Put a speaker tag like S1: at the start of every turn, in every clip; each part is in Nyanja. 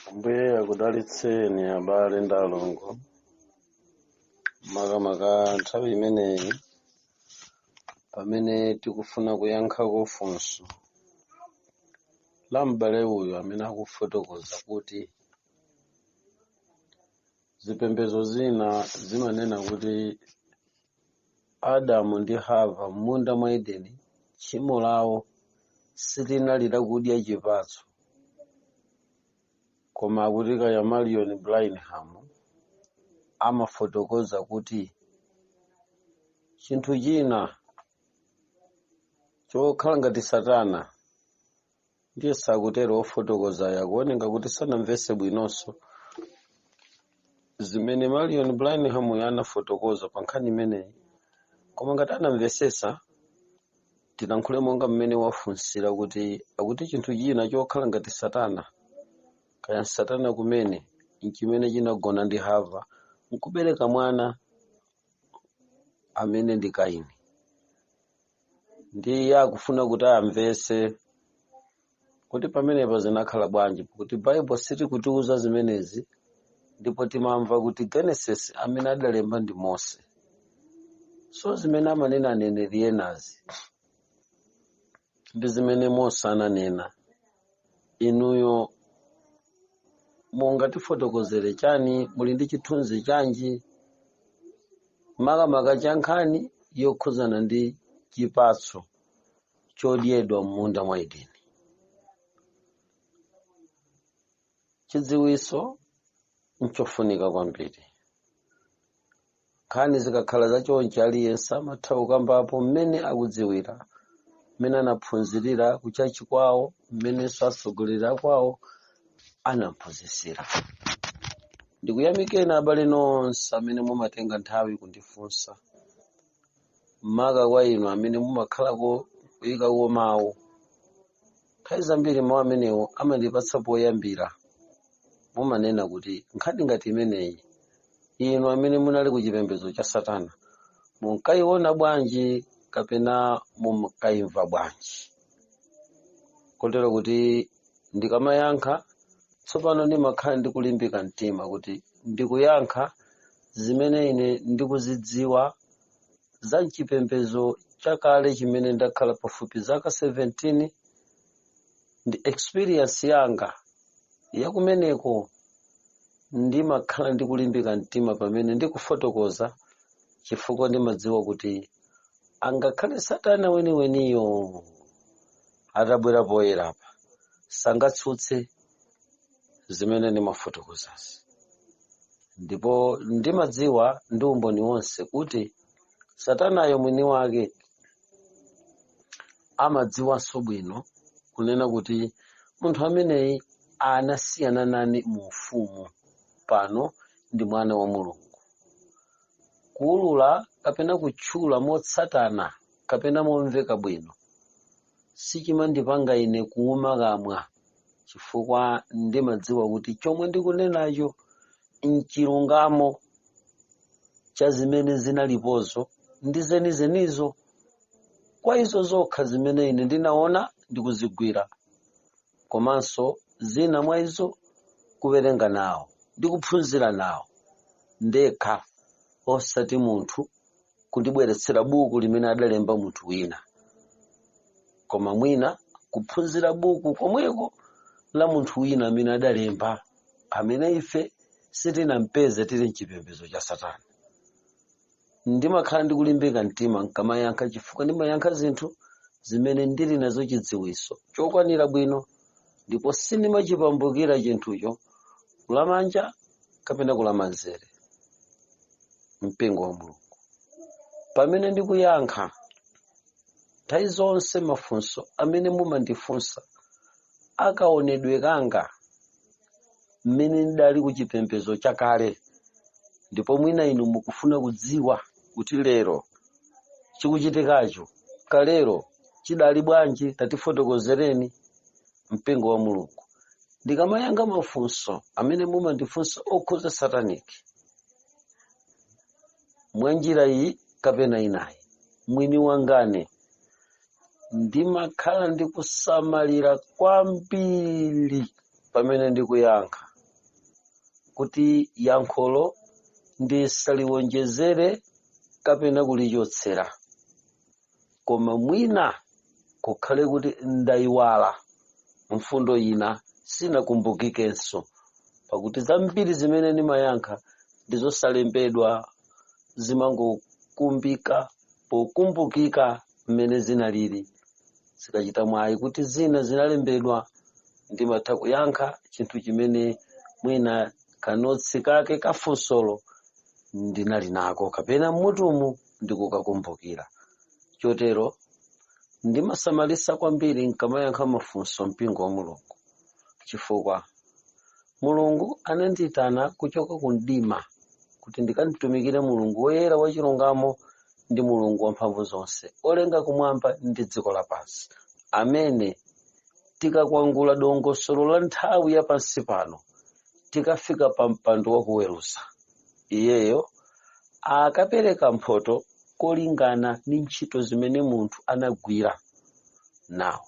S1: Ambuye akudalitseni abale ndi alongo makamaka nthawi imeneyi pamene tikufuna kuyankhako funso la m'bale uyu amene akufotokoza kuti zipembedzo zina zimanena kuti Adamu ndi Hava m'munda mwa Edeni, tchimo lawo silinali lakudya chipatso, koma akuti kaya Marion Branham amafotokoza kuti chinthu china chokhala ngati Satana ndiye sakutero ofotokozayo akuoneka kuti sanamvese bwinonso zimene marion branham uyo anafotokoza pa nkhani imeneyi koma ngati anamvesesa tilankhule monga mmene wafunsira kuti akuti chinthu china chokhala ngati satana kaya satana kumene nchimene chinagona ndi hava nkubereka mwana amene ndi kaini ndiye akufuna kuti amvetse kuti pamenepa zinakhala bwanji kuti baibulo silikutiuza zimenezi ndipo timamva kuti genesis amene adalemba ndi mose so zimene amanena aneneri enazi ndi zimene mose ananena inuyo mungatifotokozere chani muli ndi chithunzi chanji makamaka cha nkhani yokhuzana ndi chipatso chodyedwa m'munda mwa edeni chidziwitso nchofunika kwambiri nkhani zikakhala za chonchi aliyense amatha kukambapo mmene akudziwira mmene anaphunzirira kuchachi kwawo mmenenso atsogoleri akwawo anamphunzitsira ndikuyamikeni abale nonse amene mumatenga nthawi kundifunsa maka kwa inu amene mumakhalako kuyikako mawu nthawi zambiri mawu amenewo amandipatsa poyambira mumanena kuti nkhani ngati imeneyi inu amene munali ku chipembedzo cha satana munkayiona bwanji kapena munkayimva bwanji kotero kuti ndikamayankha tsopano ndimakhala ndikulimbika mtima kuti ndikuyankha zimene ine ndikuzidziwa za mchipembedzo chakale chimene ndakhala pafupi zaka 17 ndi experience yanga yakumeneko ndimakhala ndikulimbika mtima pamene ndikufotokoza chifukwa ndimadziwa kuti angakhale satana weniweniyo atabwera poyera apa sangatsutse zimene ndimafotokozazi ndipo ndimadziwa ndi umboni wonse kuti satanayo mwini wake amadziwanso bwino kunena kuti munthu ameneyi anasiyana nane mu ufumu pano ndi mwana wa mulungu kuulula kapena kutchula motsatana kapena momveka bwino sichimandipanga ine kuuma kamwa chifukwa ndimadziwa kuti chomwe ndikunenacho nchilungamo cha zimene zinalipozo ndi zenizenizo kwa izo zokha zimene ine ndinaona ndikuzigwira komanso zina mwa izo kuwerenga nawo ndi kuphunzira nawo ndekha osati munthu kundibweretsera buku limene adalemba munthu wina koma mwina kuphunzira buku komweko la munthu wina amene adalemba amene ife sitinampeze tili mchipembedzo cha satana ndimakhala ndikulimbika mtima nkamayankha chifukwa ndimayankha zinthu zimene ndili nazo chidziwitso chokwanira bwino ndipo sindimachipambukira chinthucho kulamanja kapena kulamanzere mpingo wa mulungu pamene ndikuyankha nthawi zonse mafunso amene mumandifunsa akaonedwe kanga mmene ndidali ku chipembedzo chakale ndipo mwina inu mukufuna kudziwa kuti lero chikuchitikacho kalero chidali bwanji tatifotokozereni mpingo wa mulungu ndikamayankha mafunso amene mumandifunsa okhuza sataniki mwa njira iyi kapena inayi mwini wangane ndimakhala ndikusamalira kwambiri pamene ndikuyankha kuti yankholo ndisaliwonjezere kapena kulichotsera koma mwina kukhale kuti ndayiwala mfundo ina sinakumbukikenso pakuti zambiri zimene ndimayankha ndizosalembedwa zimangokumbukika pokumbukika mmene zinalili zikachita mwayi kuti zina zinalembedwa ndimatha kuyankha chinthu chimene mwina kanotsi kake kafunsolo ndinali nako kapena mmutumu ndikukakumbukira chotero ndimasamalisa kwambiri nkamayankha mafunso mpingo wa mulungu chifukwa mulungu anandiyitana kuchoka ku mdima kuti ndikamtumikire mulungu woyera wachilungamo ndi mulungu wamphamvu zonse olenga kumwamba ndi dziko lapansi amene tikakwangula dongosolo la nthawi ya pansi pano tikafika pa mpando wakuweruza iyeyo akapereka mphoto kolingana ndi ntchito zimene munthu anagwira nawo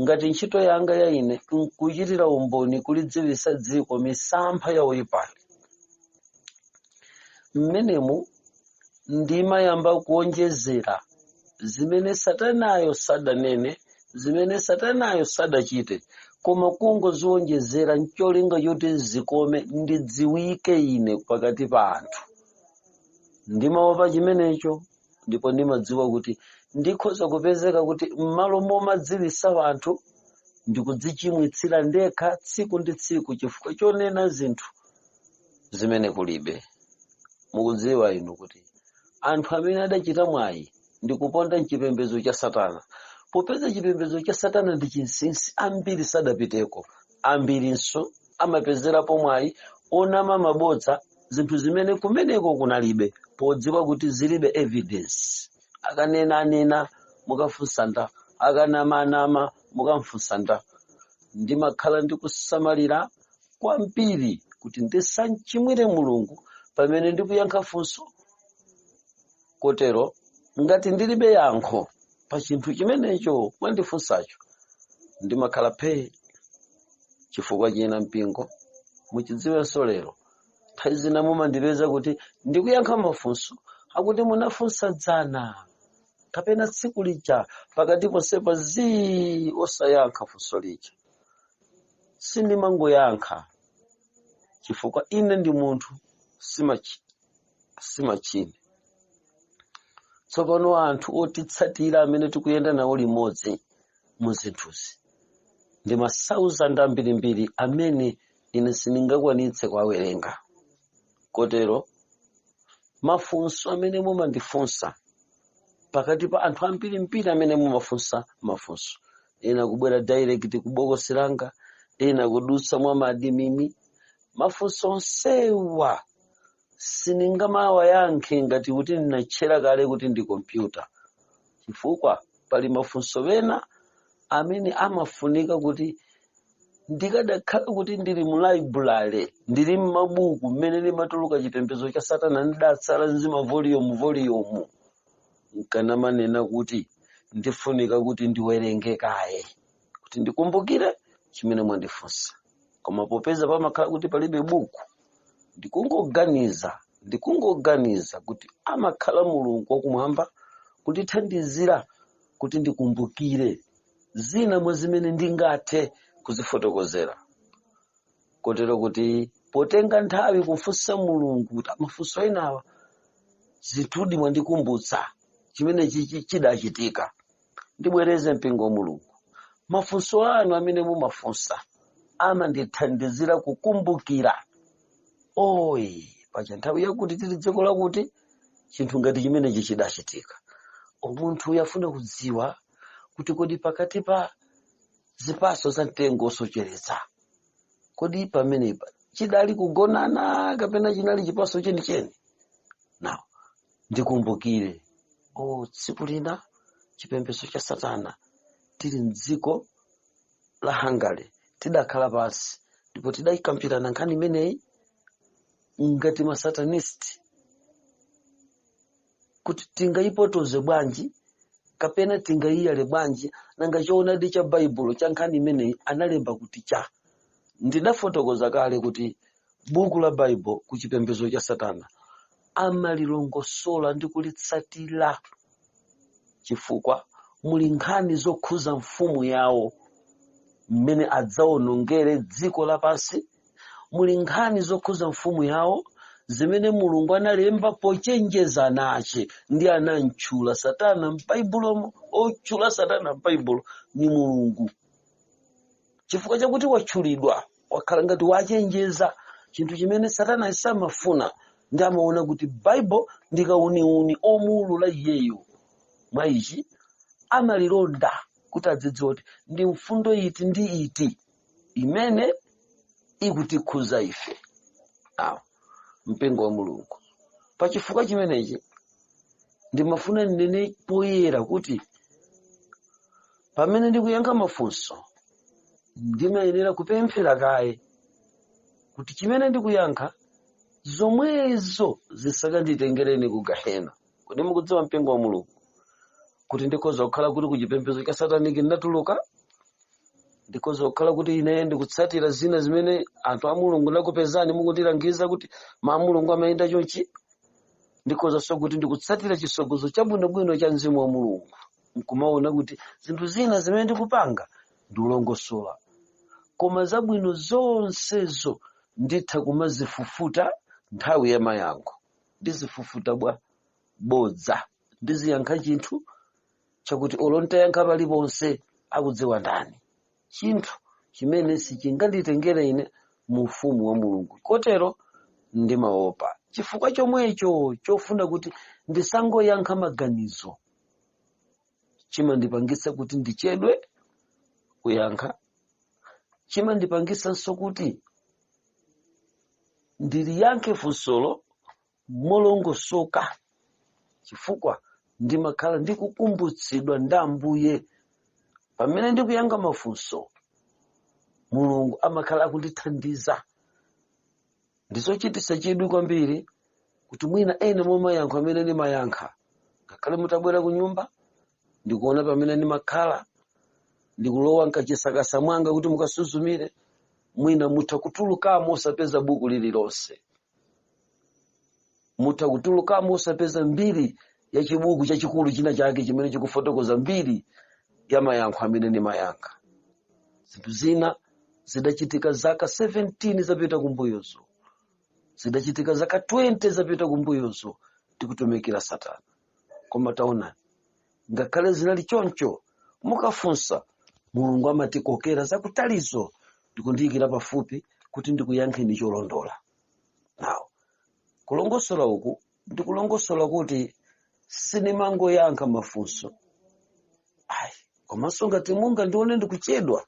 S1: ngati ntchito yanga ya ine nkuchitira umboni kulidziwisa dziko misampha ya oyipali mmenemu ndimayamba kuonjezera zimene satanayo sadanene zimene satanayo sadachite koma kungoziwonjezera ncholinga choti zikome ndidziwike ine pakati pa anthu ndimaopa chimenecho ndipo ndimadziwa kuti ndikhoza kupezeka kuti m'malo momadziwisa anthu ndikudzichimwitsira ndekha tsiku ndi tsiku chifukwa chonena zinthu zimene kulibe mukudziwa inu kuti anthu amene adachita mwayi ndikuponda mchipembedzo cha satana popeza chipembedzo cha satana ndi chinsinsi ambiri sadapiteko ambirinso amapezerapo mwayi onama mabodza zinthu zimene kumeneko kunalibe podziwa kuti zilibe evidence akanenanena mukafunsa ndani akanamanama mukamfunsa ndani ndimakhala ndikusamalira kwambiri kuti ndisamchimwire mulungu pamene ndikuyankha funso kotero ngati ndilibe yankho pa chinthu chimenecho mwandifunsacho ndimakhala phee chifukwa china mpingo muchidziwenso lero nthawi zina mumandipeza kuti ndikuyankha mafunso akuti munafunsa dzana kapena tsiku lija pakati ponsepa zii osayankha funso lija sindimangoyankha chifukwa ine ndi munthu simachine tsopano anthu otitsatira amene tikuyenda nawo limodzi mu zinthuzi ndi masauzandi ambirimbiri amene ine sindingakwanitse kuwawerenga kotero mafunso amene mumandifunsa pakati pa anthu ambirimbiri amene mumafunsa mafunso ena kubwera direct kubokosi langa ena kudutsa mwa maadimini mafunso onsewa sindingamawayankhe ngati kuti ndinatchera kale kuti ndi kompyuta chifukwa pali mafunso ena amene amafunika kuti ndikadakhala kuti ndili mu library ndili m'mabuku mmene limatuluka chipembedzo cha satana ndidatsala nzima volume volume nkanamanena kuti ndifunika kuti ndiwerenge kaye kuti ndikumbukire chimene mwandifunsa koma popeza pamakhala kuti palibe buku ndikungoganiza ndikungoganiza kuti amakhala mulungu wakumwamba kundithandizira kuti ndikumbukire zina mwa zimene ndingathe kuzifotokozera kotero kuti potenga nthawi kufunsa mulungu kuti mafunso enawa zinthudi mwandikumbutsa chimene chichi- chidachitika ndibwereze mpingo wa mulungu mafunso anu amene mumafunsa amandithandizira kukumbukira oyi paja nthawi yakuti tili dziko lakuti chinthu ngati chimenechi chidachitika o munthuyu afuna kudziwa kuti kodi pakati pa zipatso za mtengo wosocheretsa kodi pamenepa chidali kugonana kapena chinali chipatso chenicheni nane ndikumbukire o tsiku lina chipembedzo cha satana tili mdziko la hungary tidakhala pansi ndipo tidayikambirana nkhani imeneyi ngati masatanist kuti tingayipotoze bwanji kapena tingayiyale bwanji nanga choonadi cha baibulo cha nkhani imeneyi analemba kuti cha ndidafotokoza kale kuti buku la baibulo ku chipembedzo cha satana amalilongosola ndi kulitsatira chifukwa muli nkhani zokhuza mfumu yawo mmene adzaonongere dziko lapansi muli nkhani zokhuza mfumu yawo zimene mulungu analemba pochenjeza ana ache ndi anamtchula satana m'baibulomo otchula satana m'baibulo ni mulungu chifukwa chakuti watchulidwa wakhala ngati wachenjeza chinthu chimene satana samafuna ndi amaona kuti baibulo ndi kauniuni omuulula iyeyo mwa ichi amalilonda kuti adzidziwe kuti ndi mfundo iti ndi iti imene ikutikhudza ife awo mpingo wa mulungu pa chifukwa chimenechi ndimafuna ndinene poyera kuti pamene ndikuyankha mafunso ndimayenera kupemphera kaye kuti chimene ndikuyankha zomwezo zisakanditengereni ku gahena kodi mukudziwa mpingo wa mulungu kuti ndikhoza kukhala kuti kuchipembedzo cha sataniki ndinatuluka ndikhoza kukhala kuti ine ndikutsatira zina zimene anthu a mulungu ndakupezani mukundilangiza kuti mwa mulungu amayenda chonchi ndikhozanso kuti ndikutsatira chisogozo chabwinobwino cha mzimu wa mulungu nkumaona kuti zinthu zina zimene ndikupanga ndiulongosola koma zabwino zonsezo nditha kumazifufuta nthawi ya mayankho ndizifufuta bwa bodza ndiziyankha chinthu chakuti olo ntayankha paliponse akudziwa ndani chinthu chimene sichinganditengere ine mu ufumu wa mulungu kotero ndimaopa chifukwa chomwecho chofuna kuti ndisangoyankha maganizo chimandipangitsa kuti ndichedwe kuyankha chimandipangisanso kuti ndiliyankhe funsolo molongosoka chifukwa ndimakhala ndikukumbutsidwa ndi ambuye pamene ndikuyankha mafunso mulungu amakhala akundithandiza ndizochititsa chidwi kwambiri kuti mwina ena mwa mayankho amene ndimayankha ngakhale mutabwera ku nyumba ndikuona pamene ndimakhala ndikulowa mkachisakasa mwanga kuti mukasuzumire mwina mutha kutulukamo osapeza buku lililonse mutha kutulukamo osapeza mbiri ya chibuku chachikulu china chake chimene chikufotokoza mbiri ya mayankho amene ndimayankha zinthu zina zidachitika zaka 17 zapita kumbuyozo zidachitika zaka 20 zapita kumbuyozo tikutumikira satana koma taona ngakhale zinali choncho mukafunsa mulungu amatikokera zakutalizo ndikundiyikira pafupi kuti ndikuyankheni cholondola nawo kulongosola uku ndikulongosola kuti sinimangoyankha mafunso ayi komanso ngati mungandione ndikuchedwa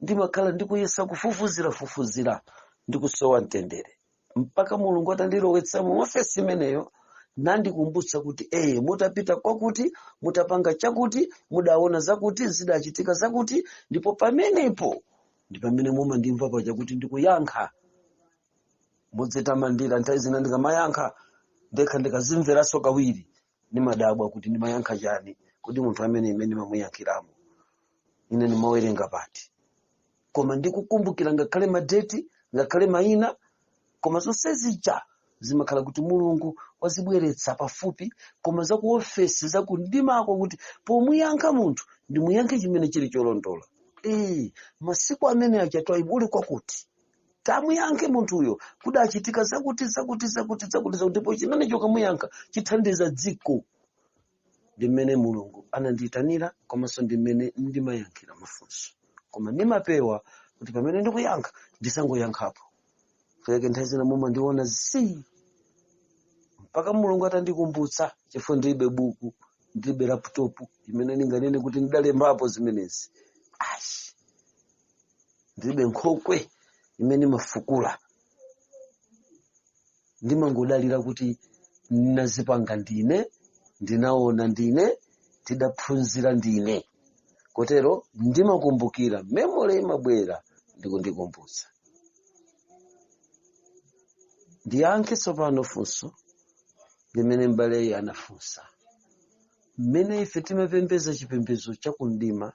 S1: ndimakhala ndikuyesa kufufuzira fufuzira ndikusowa mtendere mpaka mulungu atandilowetsa mu ofesi imeneyo nandikumbutsa kuti eye mutapita kwakuti mutapanga chakuti mudaona zakuti zidachitika zakuti ndipo pamenepo ndi pamene mumandimva paja kuti ndikuyankha modzitamandira nthawi zina ndikamayankha ndekha ndikazimveranso kawiri ndimadabwa kuti ndimayankha chani kodi munthu ameneyu mmene ndimamuyankhiramo ine ndimawerenga pati koma ndikukumbukira ngakhale madeti ngakhale mayina koma zonse zija zimakhala kuti mulungu wazibweretsa pafupi koma za ku ofesi za ku mdimako kuti pomuyankha munthu ndimuyankhe chimene chili cholondola ee masiku amene aja twaibu uli kwakuti tamuyankhe munthuyo kudachitika zakuti zakuti zakuti zakuti zakuti ndipo chimene chokamuyankha chithandiza dziko ndi mmene mulungu anandiyitanira komanso ndi mmene ndimayankhira mafunso koma ndimapewa kuti pamene ndikuyankha ndisangoyankhapo nchifukwa chake nthawi zina mumandiona zi mpaka mulungu atandikumbutsa chifukwa ndilibe buku ndilibe laptop imene ndinganene kuti ndidalembapo zimenezi ayi ndilibe nkhokwe imene imafukula ndimangodalira kuti ndinazipanga ndine ndinaona ndine ndidaphunzira ndine kotero ndimakumbukira memory imabwera ndikundikumbutsa ndiyankhe tsopano funso limene m'baleyo anafunsa mmene ife timapembeza chipembedzo chakumidima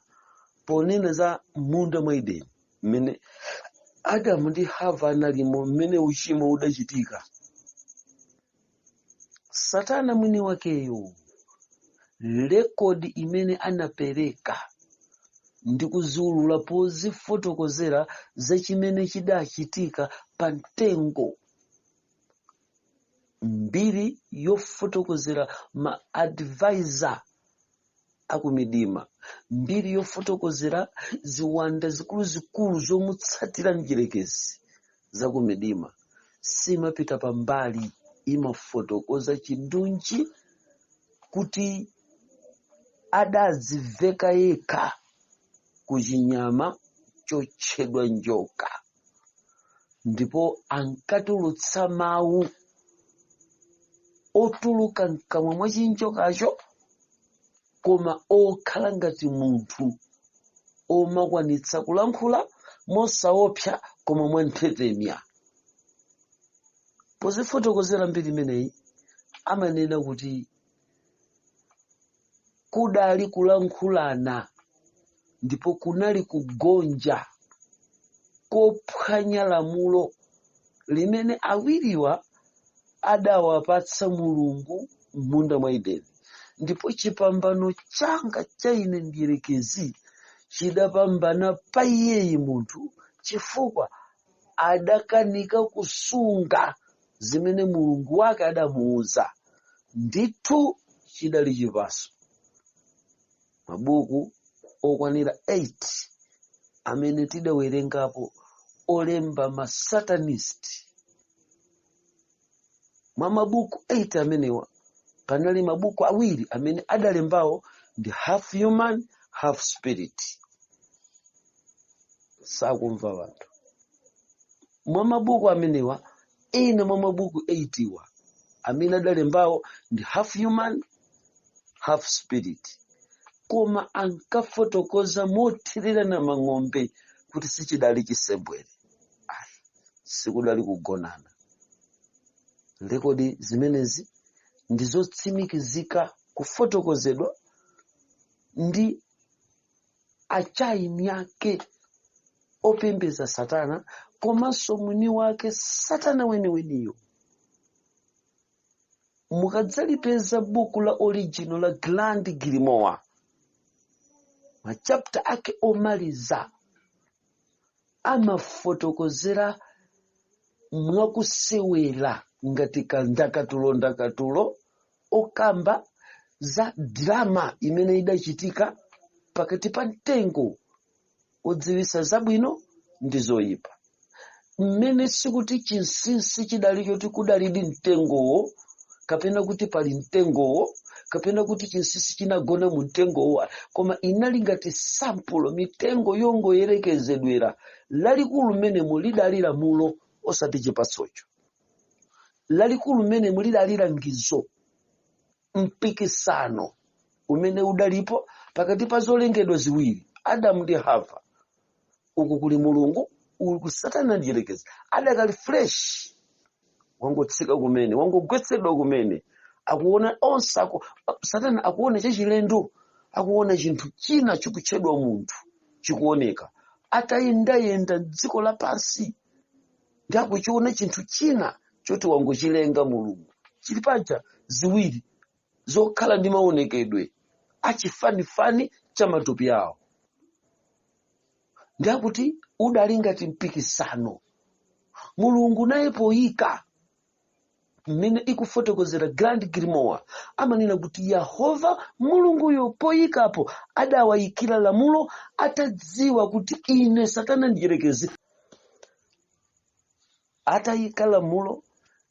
S1: ponena za m'munda mwa edeni mmene adamu ndi hava analimo mmene uchimo udachitika satana mwini wakeyo rekodi imene anapereka ndi kuziulula pozifotokozera za chimene chidachitika pa mtengo mbiri yofotokozera ma advisor akumidima mbiri yofotokozera ziwanda zikuluzikulu zomutsatira mdyerekezi zakumidima siimapita pambali imafotokoza chindunji kuti adadziveka yekha ku chinyama chotchedwa njoka ndipo ankatulutsa mawu otuluka mkamwa mwa chinjokacho koma okhala ngati munthu omakwanitsa kulankhula mosaopsa koma mwanthetemya pozifotokozera mbiri imeneyi amanena kuti kudali kulankhulana ndipo kunali kugonja kophwanya lamulo limene awiriwa adawapatsa mulungu m'munda mwa edeni ndipo chipambano changa cha ine mdierekezi chidapambana pa iyeyi munthu chifukwa adakanika kusunga zimene mulungu wake adamuuza ndithu chidali chipatso mabuku okwanira 8 amene tidawerengapo olemba masatanist mwa mabuku 8 amenewa panali mabuku awiri amene adalembawo ndi half human half spirit sakumva wanthu mwa mabuku amenewa ina mwa mabuku 8 wa amene adalembawo ndi half human half spirit koma ankafotokoza mothererana mang'ombe kuti sichidali chisembwere ayi sikudali kugonana lekodi zimenezi ndi zotsimikizika kufotokozedwa ndi achaini ake opembedza satana komanso mwini wake satana weniweniyo mukadzalipeza buku la original la grand grimoire machapta ake omaliza amafotokozera mwakusewera ngati kandakatulo ndakatulo okamba za drama imene idachitika pakati pa mtengo odziwisa zabwino ndi zoyipa mmene sikuti chinsinsi chidali choti kudalidi mtengowo kapena kuti pali mtengowo kapena kuti chinsinsi chinagona mu mtengowo koma inali ngati sampulo mitengo yongoyerekezedwera lalikulu mmenemo lidali lamulo osati chipatsocho lalikulu mmenemo lidali langizo mpikisano umene udalipo pakati pa zolengedwa ziwiri adamu ndi hava uku kuli mulungu uku satana mdyerekezi adakali fresh wangotsika kumene wangogwetsedwa kumene akuona onse aku, satana akuona chachilendo akuona chinthu china chikutchedwa munthu chikuoneka atayendayenda dziko lapansi ndi akuchiona chinthu china choti wangochilenga mulungu chili paja ziwiri zokhala ndi maonekedwe achifanifani cha matupi awo ndi akuti udali ngati mpikisano mulungu naye poyika mmene ikufotokozera grand grimoire amanena kuti yehova mulunguyo poyikapo adawayikira lamulo atadziwa kuti ine satana mdyerekezi atayika lamulo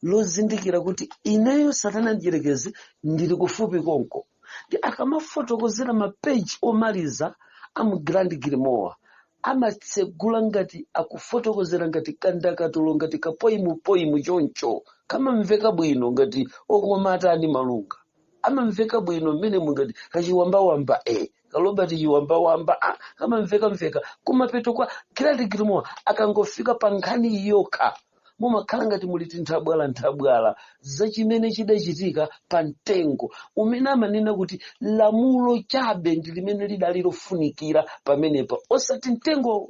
S1: lozindikira kuti ineyo satana mdyerekezi ndili kufupi konko ndi akamafotokozera mapeji omaliza a mu grand grimoire amatsegula ngati akufotokozera ngati kandakatulo ngati kapoimupoimu choncho kamamveka bwino ngati okomaatani malunga amamveka bwino mmene mungati kachiwambawamba e ka robert chiwambawamba ah, kamamvekamveka kumapeto kwa grand grimoire akangofika pa nkhani yokha mumakhala ngati muli tinthabwalanthabwala za chimene chidachitika pa mtengo umene amanena kuti lamulo chabe ndi limene lidali lofunikira pamenepa osati mtengo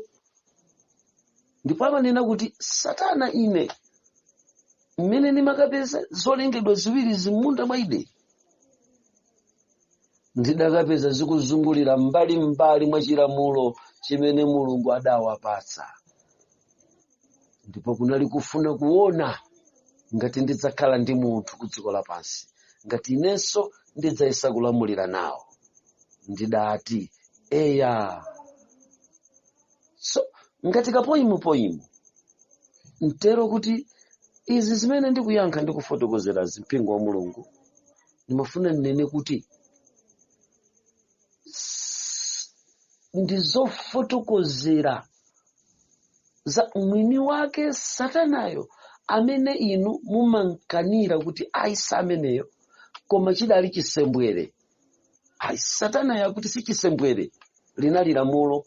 S1: ndipo amanena kuti satana ine mmene ndimakapeza zolengedwa ziwiri za m'munda mwa edeni ndidakapeza zikuzungulira mbali mbali mwa chilamulo chimene mulungu adawapatsa ndipo kunali kufuna kuona ngati ndidzakhala ndi munthu ku dziko lapansi ngati inenso ndidzayesa kulamulira nawo ndidati eya so ngati kapoyimu poyimu mtero kuti izi zimene ndikuyankha ndi kufotokozerazi mpingo wa mulungu ndimafuna ndinene kuti s- ndi zofotokozera za mwini wake satanayo amene inu mumamukanira kuti ayi si ameneyo koma chidali chisembwere ayi satanayo akuti si chisembwere linali lamulo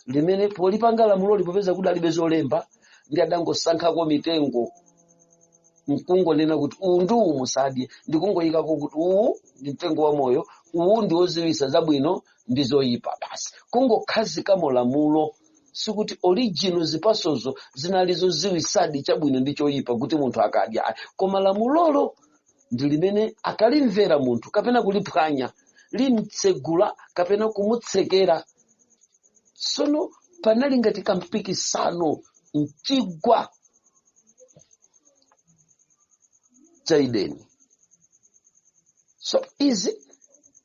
S1: limene polipanga lamulo li popeza kudalibe zolemba ndiye adangosankhako mitengo n'kungonena kuti uwu ndi uwu musadye ndikungoyikako kuti uwu ndi mtengo wa moyo uwu ndi woziwisa zabwino ndi zoyipa basi kungokhazikamo lamulo sikuti original zipasozo zinali zoziwisadi chabwino ndi choyipa kuti munthu akadya ayi koma lamulolo ndi limene akalimvera munthu kapena kuliphwanya limtsegula kapena kumutsekera sono panali ngati kampikisano m'chigwa cha edeni so izi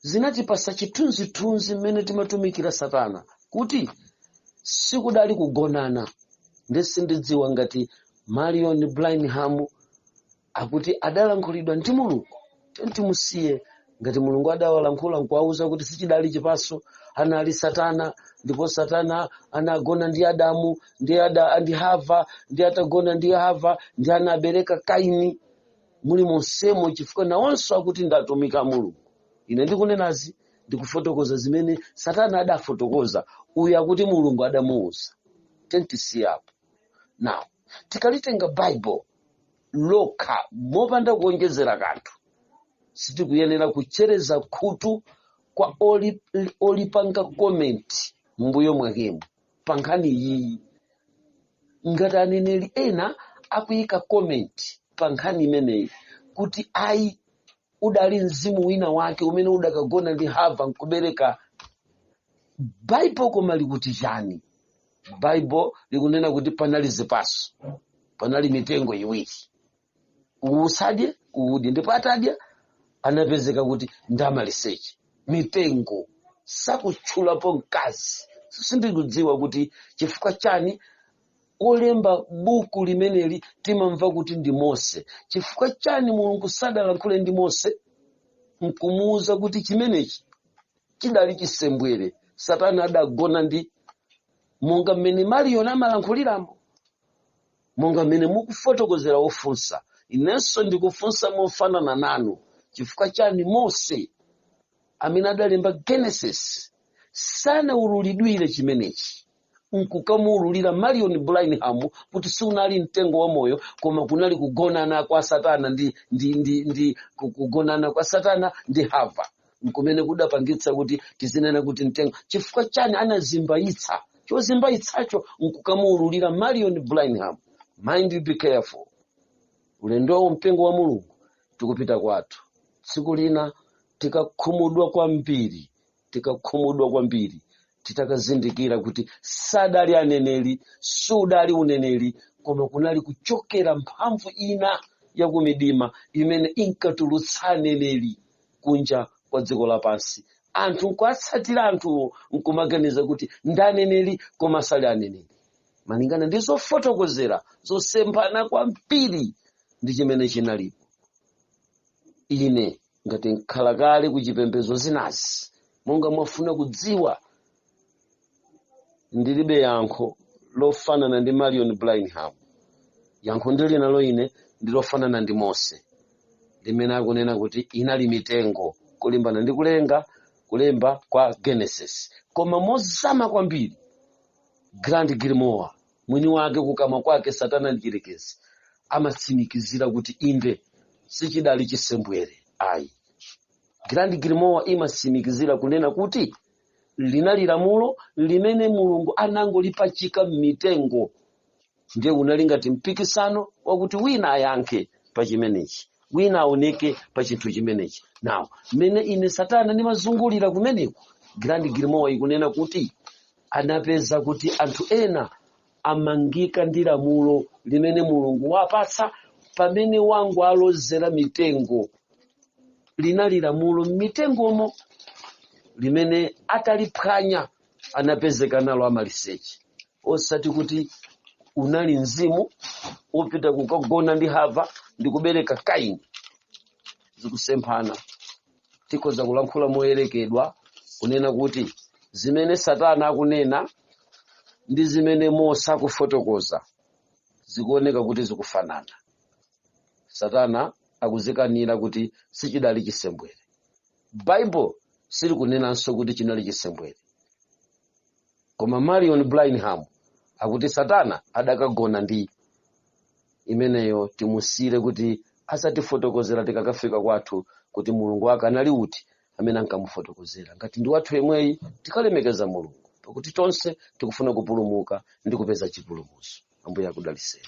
S1: zinatipasa chithunzithunzi mmene timatumikira satana kuti sikudali kugonana ndiye sindidziwa ngati marion branham akuti adalankhulidwa ndi mulungu then timusiye ngati mulungu adawalankhula n'kuwauza kuti sichidali chipaso anali satana ndipo satana anagona ndi adamu ndi, ada, ndi hava ndiye atagona ndi hava ndiye anabereka kaini mulimonsemo chifukwa nawonso akuti ndatumika mulungu ine ndikunenazi ndikufotokoza zimene satana adafotokoza uyu akuti mulungu adamuuza then tisiyapo now tikalitenga bible lokha mopanda kuonjezera kanthu sitikuyenera kuchereza khutu kwa oli- olipanga comment m'mbuyo mwakemo pa nkhani iyi ngati aneneri ena akuyika comment pa nkhani imeneyi kuti ayi udali mzimu wina wake umene udakagona ndi hava nkubereka baibulo koma likuti chani baibulo likunena kuti panali zipaso panali mitengo iwiri uwu usadye uwudye ndipo atadya anapezeka kuti ndamaliseche mitengo sakutchulapo mkazi sindikudziwa kuti chifukwa chani olemba buku limeneli timamva kuti ndi mose chifukwa chani mulungu sadalankhule ndi mose nkumuwuza kuti chimenechi chidali chisembwere satana adagona ndi monga mmene marion amalankhuliramo monga mmene mukufotokozera wofunsa inenso ndikufunsa mofanana nanu chifukwa chani mose amene adalemba genesis sanawululidwire chimenechi nkukamuululira marion branham kuti sunali mtengo wa moyo koma kunali kugonana kwa satana ndi, ndi, ndi, ndi ku- kugonana kwa satana ndi hava nkumene kudapangitsa kuti tizinena kuti mtengo chifukwa chani anazimbayitsa chozimbayitsacho nkukamuululira marion branham mind you be careful ulendowu mpingo wa mulungu tikupita kwathu tsiku lina tikakhumudwa kwambiri tikakhumudwa kwambiri titakazindikira kuti sadali aneneri sudali uneneri koma kunali kuchokera mphamvu ina yakumidima imene inkatulutsa aneneri kunja kwa dziko lapansi anthu nkuatsatira anthuwo nkumaganiza kuti ndi aneneri koma sali aneneri malingana ndi zofotokozera zosemphana kwambiri ndi chimene chinalipo ine ngati mkhalakale ku chipembedzo ndinazi monga mwafuna kudziwa ndilibe yankho lofanana ndi marion branham yankho ndili nalo ine ndi lofanana ndi mose limene akunena kuti inali mitengo kulingana ndi kulenga kulemba kwa genesis koma mozama kwambiri grand grimoire mwini wake kukamwa kwake satana mdyerekezi amatsimikizira kuti inde sichidali chisembwere ayi grand grimoire imatsimikizira kunena kuti linali lamulo limene mulungu anangolipachika m'mitengo ndiye unali ngati mpikisano wakuti wina ayankhe pa chimenechi wina aoneke pa chinthu chimenechi now mmene ine satana ndimazungulira kumeneko grand grimoire ikunena kuti anapeza kuti anthu ena amangika ndi lamulo limene mulungu wapatsa pamene amangowalozera mitengo linali lamulo m'mitengomo limene ataliphwanya anapezeka nalo amaliseche osati kuti unali mzimu wopita kukagona ndi hava ndi kubereka kaini zikusemphana tikhoza kulankhula moyerekeza kunena kuti zimene satana akunena ndi zimene mose akufotokoza zikuoneka kuti zikufanana satana akudzikanira kuti sichinali chisembwere baibulo silikunenanso kuti chinali chisembwere koma marion branham akuti satana adakagona ndi imeneyo timusiyire kuti adzatifotokozera tikakafika kwathu kuti mulungu wake anali uti amene ankamufotokozera ngati ndi wathu yemweyi tikalemekeza mulungu pakuti tonse tikufuna kupulumuka ndi kupeza chipulumutso ambuye akudalitseni